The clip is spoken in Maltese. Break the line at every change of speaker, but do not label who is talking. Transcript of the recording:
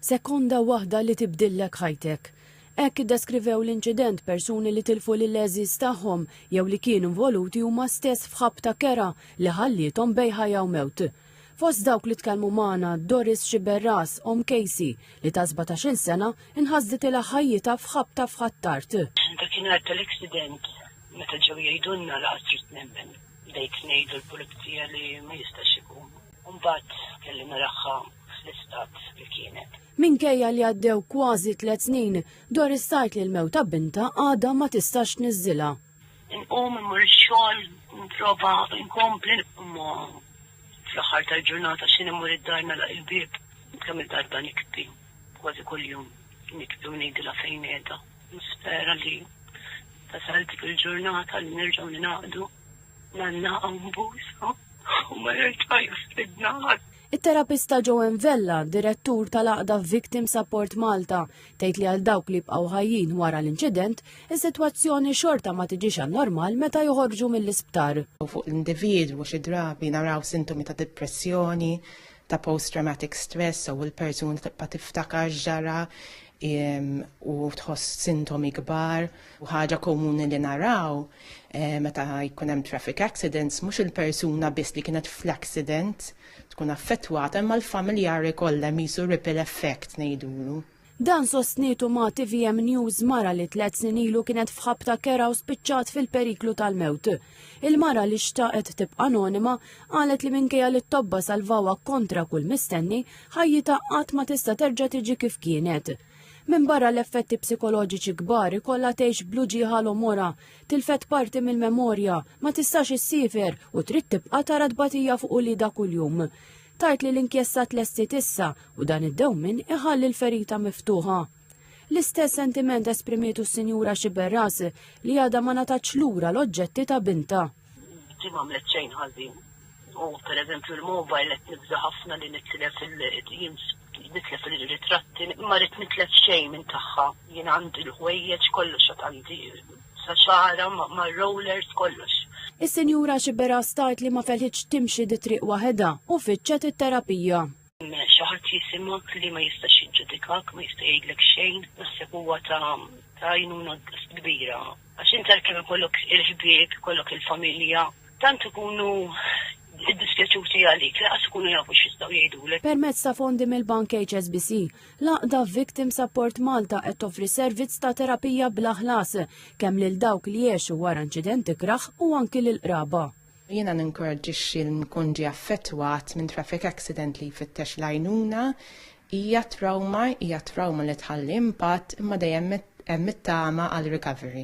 Sekonda waħda li tibdillek ħajtek. Hekk iddeskrivew l-inċident persuni li tilfu lill-għeżież tagħhom jew li kienu involuti huma stess f'ħabta kerha li ħalliethom bej ħajja u mewt. Fost dawk li tkellmu magħna, Doris Sciberras, omm Casey, li ta' sbatax-il sena inħasditilha ħajjitha f'ħabta f'Ħ'Attard. Dakinhar
tal-aksident meta ġew jgħidulna laqas ridt nemmen. Bdejt ngħid lill-pulizija li ma jistax ikun. U mbagħad kelli naraha fl-istat li kienet. Minkejja li għaddew
kważi tliet snin, Doris tgħid li l-mewt ta' bintha għadha ma tistax tniżżilha. Inqum
immur ix-xogħol, nipprova nkompli imma fl-aħħar tal-ġurnata xi immur id-dar nagħlaq il-bieb. Kemm il-darba nikbi, kważi kuljum nikbi u ngħidilha fejn qiegħda. Nispera li tasal dik il-ġurnata li nerġgħu ningħaqdu. Nanna hawn b'għużha u ma jerġa' jafridna ħadd. It-terapista Joanne
Vella, direttur tal-għaqda Victim Support Malta, tgħid li għal dawk li jibqgħu ħajjin wara l-inċident, is-sitwazzjoni xorta ma tiġix għan-normal meta joħorġu mill-isptar. Fuq l-individwu
xi drabi naraw sintomi ta' dipressjoni, ta' post-traumatic stress u l-persuna tibqa' tiftakar x'ġara u tħoss sintomi kbar. U ħaġa komuni li naraw eh, meta jkun hemm traffic accidents mhux il-persuna biss li kienet fl-accident tkun affettwata imma l-familjari kollha misu ripple effect ngħidulu. Dan sostnitu
ma' TVM News mara li tlet snin ilu kienet fħabta kera u spiċċat fil-periklu tal-mewt. Il-mara li xtaqet tibqa' anonima qalet li minkejja li t-tobba salvawa kontra kull mistenni, ħajjita qatt ma tista' terġa' tiġi kif kienet. Minbarra l-effetti psikoloġiċi kbar ikollha tgħix bl-uġigħa l-omorha, tilfet parti mill-memorja, ma tistax issiefer u trid tibqa' tara tbatija fuq uliedha kuljum. Tgħid li l-inkjesta tlestiet issa u dan id-dewmien iħalli l-ferita miftuħa. L-istess sentiment esprimitu s-Sinjura Sciberras li għadha ma ngħatatx lura l-oġġetti ta' bintha. Di m'għamlet
xejn ħażin. U per eżempju l-mobile qed nibża' ħafna li nitlef nitlef il-ritratti, ma rrid nitlef xejn minn tagħha. Jien għandi l-ħwejjeġ kollox għad għandi sa xagħarha mar-rollers kollox. Is-Sinjura
Sciberras tgħid li ma felħitx timxi di triq waħedha u fittxet it-terapija. Xi ħadd
jisimgħek li ma jistax jiġġudikak, ma jista' jgħidlek xejn, naħseb huwa ta' għajnuna kbira. Għax inti għalkemm ikollok il-ħbieb, ikollok il-familja, tant ikunu iddispjaċuti għalik, lanqas ikunu jafu x'jistgħu jgħidulek. Permezz ta' fondi
mill-Bank HSBC, l-għaqda Victim Support Malta qed toffri servizz ta' terapija bla ħlas kemm lil dawk li għexu wara inċident ikrah u anki lill-qraba. Jiena
ninkoraġġixxi li min ikun ġie affettwat minn traffic accident li jfittex l-għajnuna. Hija trawma, hija trawma li tħalli impatt, imma dejjem hemm it-tama għal recovery.